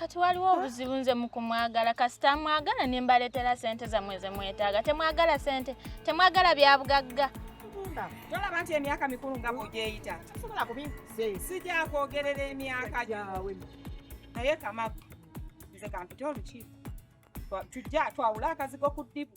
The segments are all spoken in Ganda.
kati waliwo obuzibu nze mukumwagala kasita mwagala nembaletera sente zamwe zemwetaaga temwagala sente temwagala byabugagga okufumba tolaba nti emyaka mikulu nga bwogyeyita tosobola kubinkuze sijakwogerera emyaka gyawe naye kamagu nze kampite olukiiko tujja twawule akazigo ku ddibu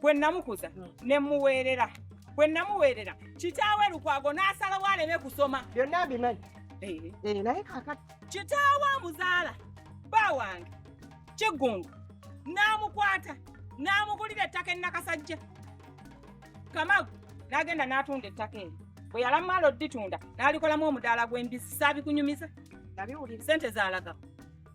bwe namukuza hmm. ne muweerera bwe namuweerera kitaawe lukwago n'asalawo aleme kusoma byonna mbimanyi eh. Eh, naye kakati kitaawe amuzaala bba wange kiggungu n'amukwata n'amugulira ettaka ennakasajja kamagu n'agenda n'atunda ettaka eryo bwe yalamala oditunda n'alikolamu omudaala gw'embizzi saabikunyumiza sente zaalagawo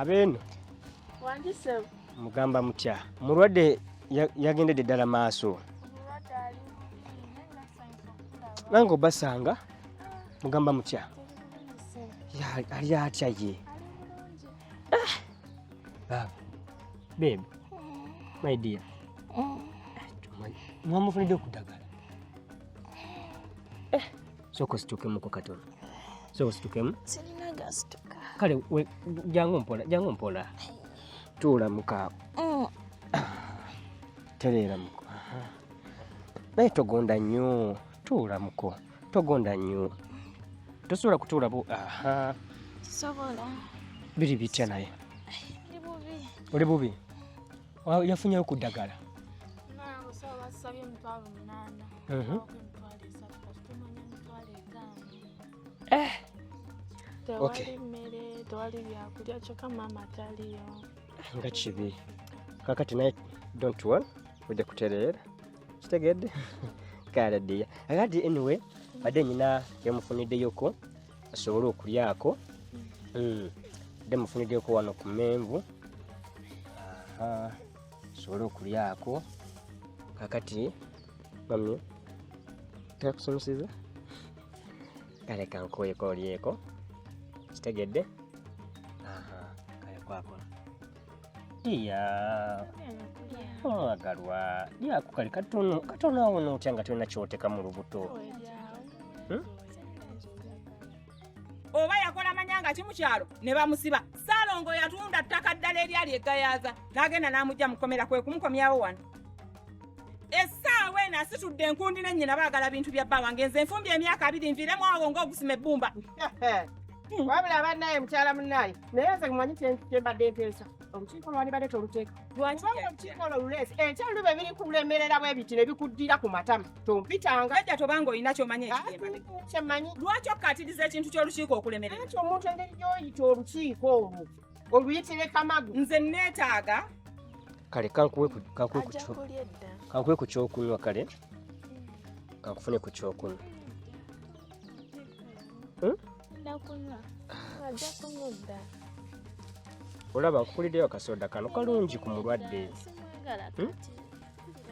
abeeno mugamba mutya mulwadde yagendedde ddala maaso nange obasanga mugamba mutya ali atya ye Ah. Baba. Babe. My dear. Eh. Mwamufunidde okudagala. Eh. Soko situkemu ko katono. Soko situkemu. Sirina gasituka. Kale we jangu mpola, jangu mpola. Tuula muka. Mm. Tereera muko. Naye togonda nnyo. Tuula muko. togonda nnyo tosobola kutuula bu aha sobola biri bitya naye oli bubi yafunyeyo ku ddagala mhm. eh. nga kibi kakati naye don't one ojja kutereera kitegedde kale ddiya akati anyway badde nyina yamufuniddeyoko asobole okulyako hmm. dde mufuniddeko wano ku menvu asobole okulyako kakati mami takusomeseza kale kankuweko olyeko kitegedde kale kwakola iya olwagalwa lyako kali katono katono awo notya nga tolina kyoteka mu lubuto Hmm? oba yakola manyanga ki mu kyalo ne bamusiba salongo yatunda ttaka ddala eryali egayaza n'agenda n'amugya mu kkomera kwe kumukomyawo wano essaawa eno asitudde enkundi ne nnyina baagala bintu bya bba wange nze nfumbye emyaka abiri nviremu awo ng'ogusima ebbumba wabula bannaye mukyala munnaye naye nze mumanyi kyembadde nteesa olukiiko lwalibadde toluteeka olukiiko olwo luleese ekyalulu be biri kulemerera bwe biti ne bikuddira ku matama tompitanga ajja tobanga olina kyomanya ekyemanyi lwaki okukatiriza ekintu ky'olukiiko okulemerera nti omuntu engeri gy'oyita olukiiko olwo oluyitire kamagu nze neetaaga kale kankuwe ku kyokunywa kale kankufune ku kyokunywa Hmm? olaba akukuliddeyo akasoda kano kalungi ku mulwadde hmm?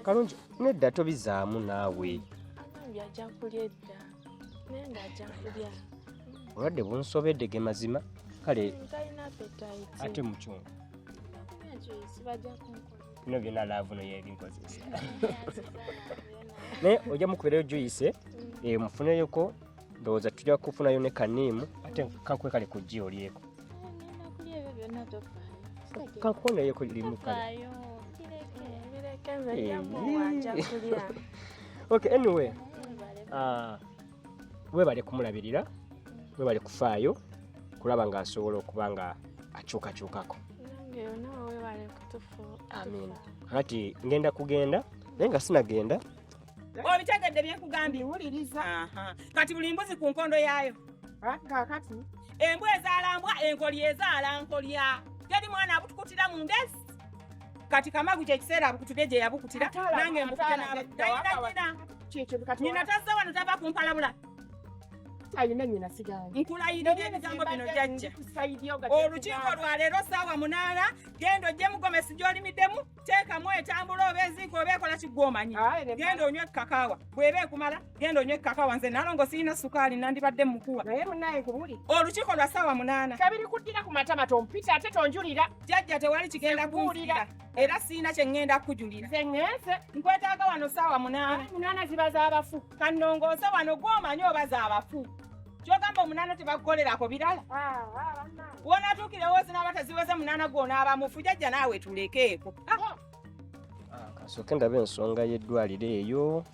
kalungi nedda tobizaamu naawe obulwadde bunsobedde ge mazima kale ate mukyongo bino byonna laavu no yebinkozesa naye ojja mukuberayo juice eh, mufuneyoko ndowooza tujja kufunayo ne kaniimu ate kakwe kale ku ggi olyeko kakuonayeko limu kale eh, okay anyway uh, webale kumulabirira webale kufaayo kulaba nga asobola okuba nga akyukakyukako amin kati ngenda kugenda naye nga sinagenda obitegedde byekugambye wuliriza kati buli mbuzi ku nkondo yaayo kakati embwa ezaalambwa enkolya ezaala nkolya teri mwana abutukutira mu ngezi kati kamagu kyekiseera abukutudde gye yabukutira nange mbukute n'abanyina tazze wano tava kumpalabula alina nyina sigandi nkulayirira ebigambo bino jajja olukiiko olwaleero saawa munaana genda ojje mugomesi gyolimiddemu teekamu etambula oba eziiko oba ekola kiggwomanyi genda onywe kakaawa bweba ekumala genda onywe kaka wanze nalongo sirina sukaali nandibadde mukuwa naye munaye kubuli olukiiko lwa saawa munaana tabiri kuddira ku matama tompita ate tonjulira jajja tewali kigenda kuwulira era sirina kye ŋŋenda kukujulira nze ŋŋenze nkwetaaga wano saawa munaana munaana ziba z'abafu kannongoose wano gw'omanyi oba z'abafu kyogamba omunaana tebakukolerako birala ah, ah, wonatuukirewo zinaaba teziweze munaana gw'onaaba mufu jajja naawe tulekeeko ah. kasooke ah, ndaba ensonga y'eddwaliro eyo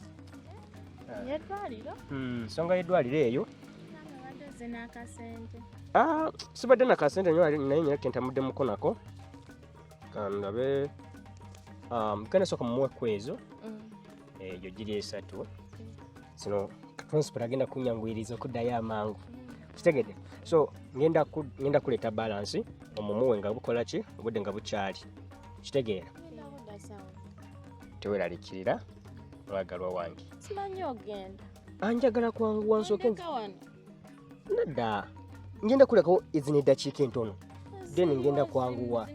yeddwaliro hmm, ensonga y'eddwaliro eyo ah, sibadde nakasente nyo naye nyina kentamudde muko nako kandabe um, kanasoka mumuwe kwezo mm. egyo giri esatu zino principal agenda kunyanguyiriza okuddayo amangu kitegede so ngenda kuleeta balansi omumuwe nga bukola ki obudde nga bukyali kitegeera teweralikirira mwagalwa wange anjagala kwanguwa nsooke nedda ngenda kulekawo ezina eddakiika entono then ngenda kwanguwa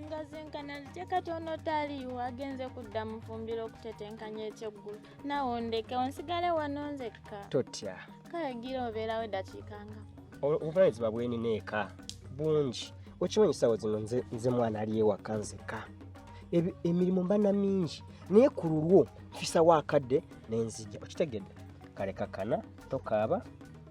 katono taliiwo agenze kudda mufumbiro okutetenkanya ekyeggulu nawe ondeke onsigale wano nzekka totya kale gira obeerawo eddakiika nga obuvunanyizibwa bwenina eka bungi okimanyi sawa zino nze mwana ali ewaka nzeka emirimu mba na mingi naye ku lulwo nfisawo akadde nenzija okitegedde kale kakana tokaaba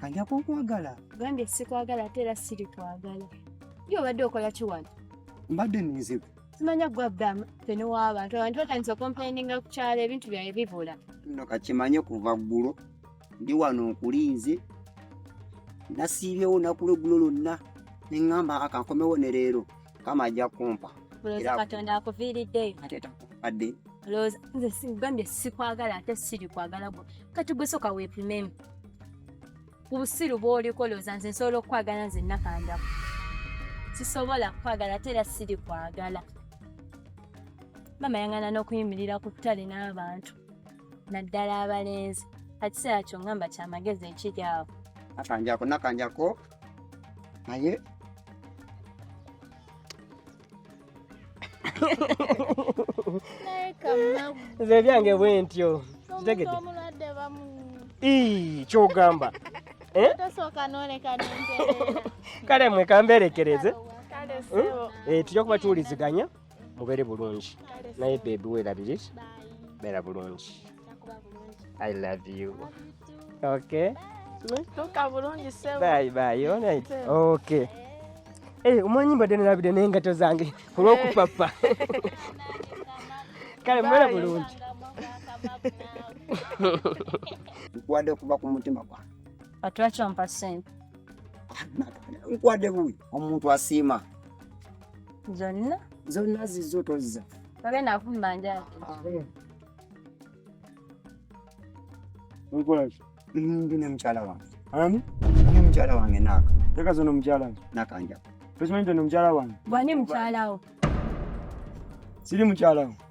kanja kukwagala gambye sikwagala ate era siri kwagala ye obadde okola kiwano mbadde ninzibu simanya gwabdamu fene w'abantu abantu batandise okompaininga ku kyalo ebintu byaye bibula no kakimanye kuva ggulo ndi wano nkulinze nasiibyewo nakulo eggulo lonna neŋŋamba akankomewo ne leero kama ajja kumpa era katonda akuviiriddeyo ate takupadde lowooza nze sigambye sikwagala ate siri kwagala gwe kati gwe soka weepimemu ku busiru bwoliko lowooza nze nsobola okukwagala nze nakandamu sisobola kukwagala ate era siri kwagala mama yangana n'okuyimirira ku ttale n'abantu naddala abalenzi akiseera kyo ngamba kyamagezi ekiri awo nakanjako nakanjako naye nze byange bwe ntyo kitegedde kyogamba eh? kale mwekamberekereze eh, tujja kuba tuwuliziganya mubere bulungi naye bebi werabire bera bulungi i love you okay tuka bulungi sebo bye bye all right okay Hey, eh, umanyi mbadde nalabide n'engato zange olw'okupapa kale mubere bulungi nkwade okuva ku mutima gwange atwakyo mpa sente nkwade buwi omuntu asiima zonna zonna zizo tozza babe navumba njati nkwaki ndi ne mukyala wange ani ndi mukyala wange naka teka zono mukyala nakanja tokimanyi nti no mukyala wange bwani mukyalawo siri mukyalawo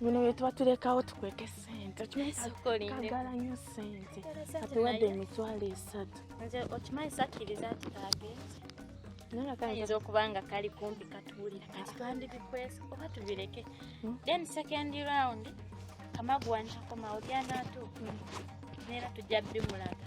bino byetuba tulekawo tukweke sente kagala nyo sente atuwadde emitwalo esatu okimanyi sakkiriza nti kagenze ayinza okuba nga kali kumpi katuwulira kati twandibikwesa oba tubireke hmm? then second round kamagwanjakomawo gyanatuuka hmm. neera tujja bimulaga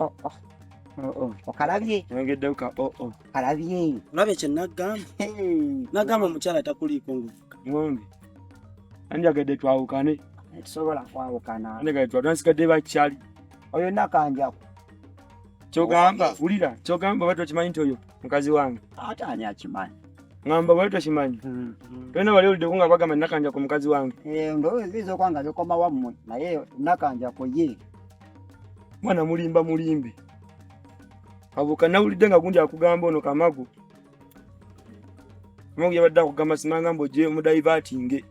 oh, oh. Oh, okalabye oyogedde ka kalabye olabye kye nagamba nagamba omukyala takuliiko ngombi anjagadde twawukane tusobola kwawukana twasigadde bakyali oyo nakanjaku kyogamba wulira kyogamba bali tokimanyi nti oyo mukazi wange ate ani akimanyi ngamba bali tokimanyi mm-hmm. tolina bali oliddeku nga bagamba nakanjaku mukazi wange eh, ndowooza oyinza okuba nga bikoma wammwe naye nakanjaku ye mwana mulimba mulimbi abuka nawulidde nga gundi akugamba ono kamagu kamagu yabadde akugamba simanga mboje omudayivatinge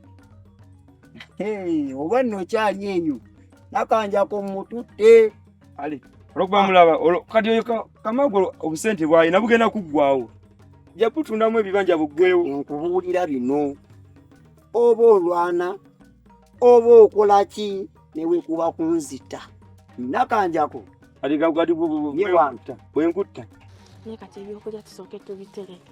oba nno okyali enyo nakanjako mututte ale olwokuba mulaba kati oyo kamagu obusente bwaye nabugenda kuggwawo jakutundamu ebibanja buggwewo nkubuulira bino oba olwana oba okola ki newekuba kunzita nakanjako bwenkutta naye kati ebyokulya tusooke tubitereke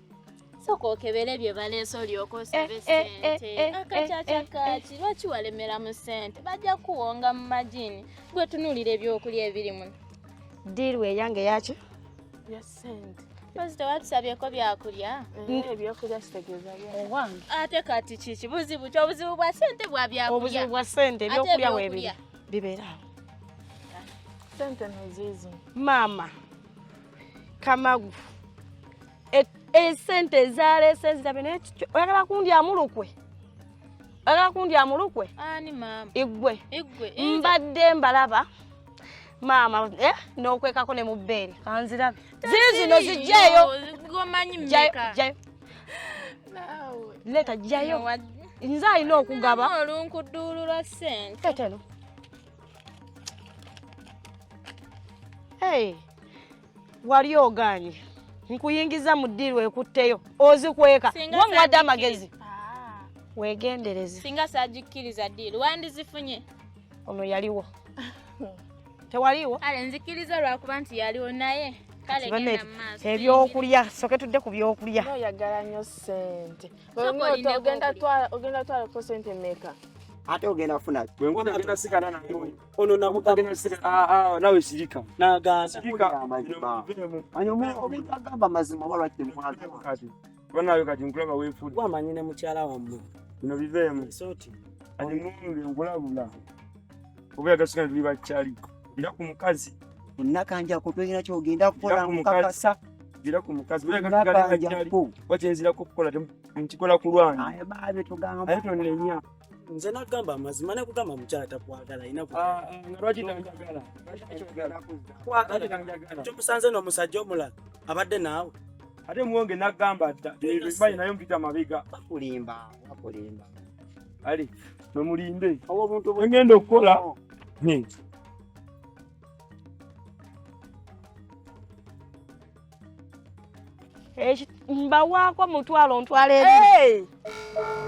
sooka okebere bye baleese olyoka osabe eh, eh, eh, sente akacaca kaaki lwaki walemera mu sente bajja kuwonga mu majini gwe tunuulira ebyokulya ebiri muno diiru eyange yaki ya sente Mpozi tewatusabyeko byakulya ebyokulya kitegeeza owange ate kati kiki buzibu ki obuzibu bwa sente bwa byakulya obuzibu bwa sente ebyokulya webiri bibeera awo sente noziizo maama kamagu esente ezaleese nzirabe naye kikyo oyagala kundyamu lukwe oyagala kundyamu lukwe igwe mbadde mbalaba maama eh, n'okwekako ne mu bbeere kanzirabe ziri zino zijjeeyo leeta jjayo nze alina okugaba olunkuduulula sente teteno wali oganye nkuyingiza mu ddiiru ekutteyo ozikweka wa muwadde amagezi ah. wegendereze singa sagikkiriza ddiiru wandizifunye ono yaliwo tewaliwo ale nzikiriza lwakuba nti yaliwo naye ebyokulya soke tudde ku byokulya oyagala nnyo sente ogenda twalako sente meka ate ogenda funa ono nawe sirika nagaanagamba mazima walwakiwanawe kati nkulaba wefud wamanyi ne mukyala wammwe bino biveemu kati ngombe nkulabula oba yagasika tuli bakyali era ku mukazi nakanjako tolina kyogenda kukola mukakasa gira ku mukazi wakyenzirako okukola nkikola ku lwange aye tonenya nze nagamba amazima nakugamba mukyala takwagala inakyomusanze ah, ah, nomusajja omulala abadde naawe ate muwonge nagamba dda ebimanyi naye mpita mabega bakulimba bakulimba ali mwemulimbe engenda okukola oh. mbawaako omutwalo ntwala ebiri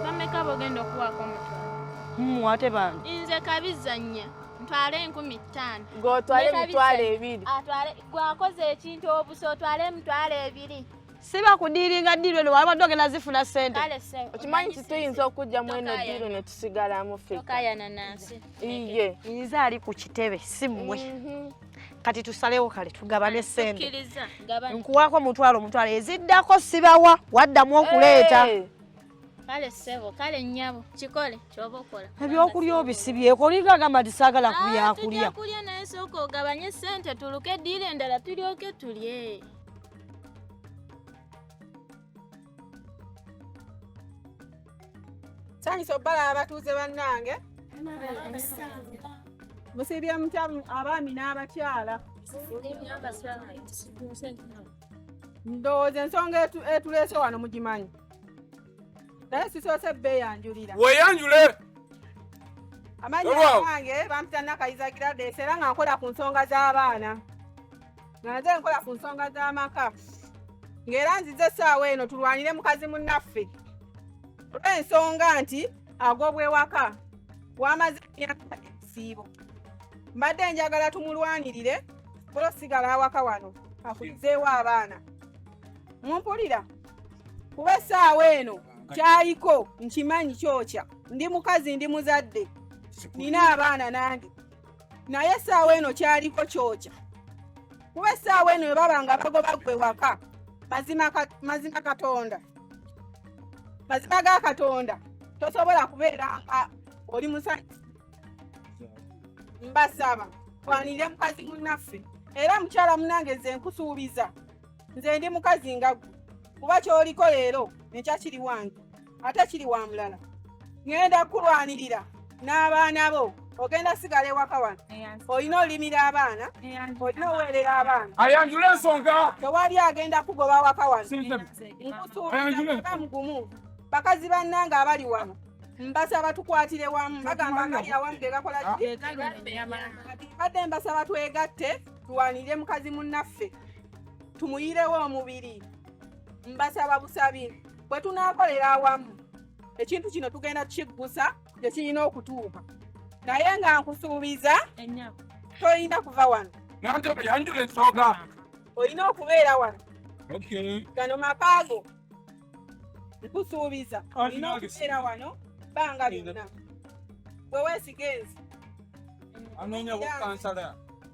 bameka bogenda okuwaako omutwalo hmm, ate bangi nze kabizannya ntwale enkumi ttaano gotwale emitwalo ebiri gwakoze ekintu obusa otwale emitwalo ebiri siba kudiiringa diiru eno wabadde ogenda zifuna sente okimanyi nti tuyinza okujja mu eno diiru ne tusigalamu fekka iye nze ali ku kitebe si mmwe mhm. kati tusalewo kale tugabane sente nkuwako mutwalo mutwalo eziddako sibawa waddamu okuleeta hey. kale sebo kale nyabo kikole kyoba okola ebyokulya obisibyeko olinga agamba nti saagala ah, kubyakulya kulya naye sooka ogabanye sente tuluke diira endala tulyoke tulye Tandise obbala abatuuze bannange. Musibye mutya abaami n'abakyala. Ndowooza ensonga etuleese wano mugimanyi. Naye sisoose bbeeyanjulira. Weeyanjule! Amannya gange bampita Nakayiza Gladys era nga nkola ku nsonga z'abaana. nga nze nkola ku nsonga z'amaka ng'era nzize essaawa eno tulwanire mukazi munnaffe olw'ensonga nti agobwewaka wamaze emyaka ebisiibo mbadde njagala tumulwanirire ola osigala awaka wano akulizeewo abaana mumpulira kuba essaawa eno kyayiko nkimanyi kyokya ndi mukazi ndi muzadde nina abaana nange naye essaawa eno kyaliko kyokya kuba essaawa eno bwe baba nga bagoba gwe waka mazima katonda mazima ga katonda tosobola kubeera nga oli musajja mbasaba twanire mukazi munnaffe era mukyala munange nze nkusuubiza nze ndi mukazi nga gwe kuba kyoliko leero enkya kiri wange ate kiri wa mulala ŋŋenda kukulwanirira n'abaana bo ogenda sigala ewaka wano olina olimira abaana olina oweerera abaana ayanjula ensonga tewali agenda kugoba waka wano nkusuubiza mugumu bakazi bannange abali wano mbasaba tukwatire wamu bagamba ngali awamu gegakola ah. badde mbasaba twegatte tulwanirire mukazi munnaffe tumuyirewo omubiri mbasaba busabi bwe tunaakolera awamu ekintu kino tugenda kukiggusa gye kirina okutuuka naye nga nkusuubiza tolina kuva wano olina okubeera wano gano makaago nkusuubiza olina okubeera wano bbanga lyonna bwe weesigenzi anoonya bukansala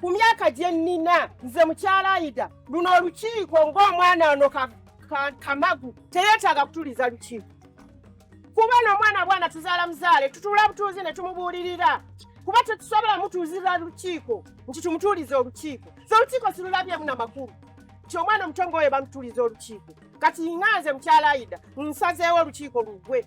ku myaka gye nnina nze mukyala ayida luno olukiiko ng'omwana ono kamagu teyeetaaga kutuliza lukiiko kuba n'omwana bwana tuzaala muzaale tutuula butuuzi ne tumubuulirira kuba tetusobola mutuuzira lukiiko nti tumutuulize olukiiko so olukiiko silulabyemu na makulu nti omwana omutongo oyo bamutuuliza olukiiko kati nga nze mukyala ayida nsazeewo olukiiko lugwe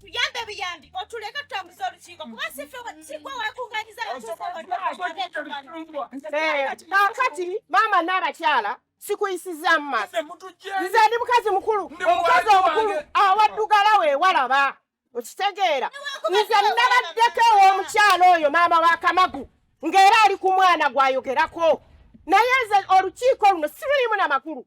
Buyambe buyambi otuleka tutambuza olukiiko kuba si ffe sigwe wekunganyiza kakati maama n'abakyala sikuyisizaamu maaso nze ndi mukazi mukulu omukazi omukulu awaddugala wewalaba okitegeera nze nabaddeko ew'omukyala oyo maama wa kamagu ng'era ali ku mwana gwayogerako naye nze olukiiko luno sirulimu na makulu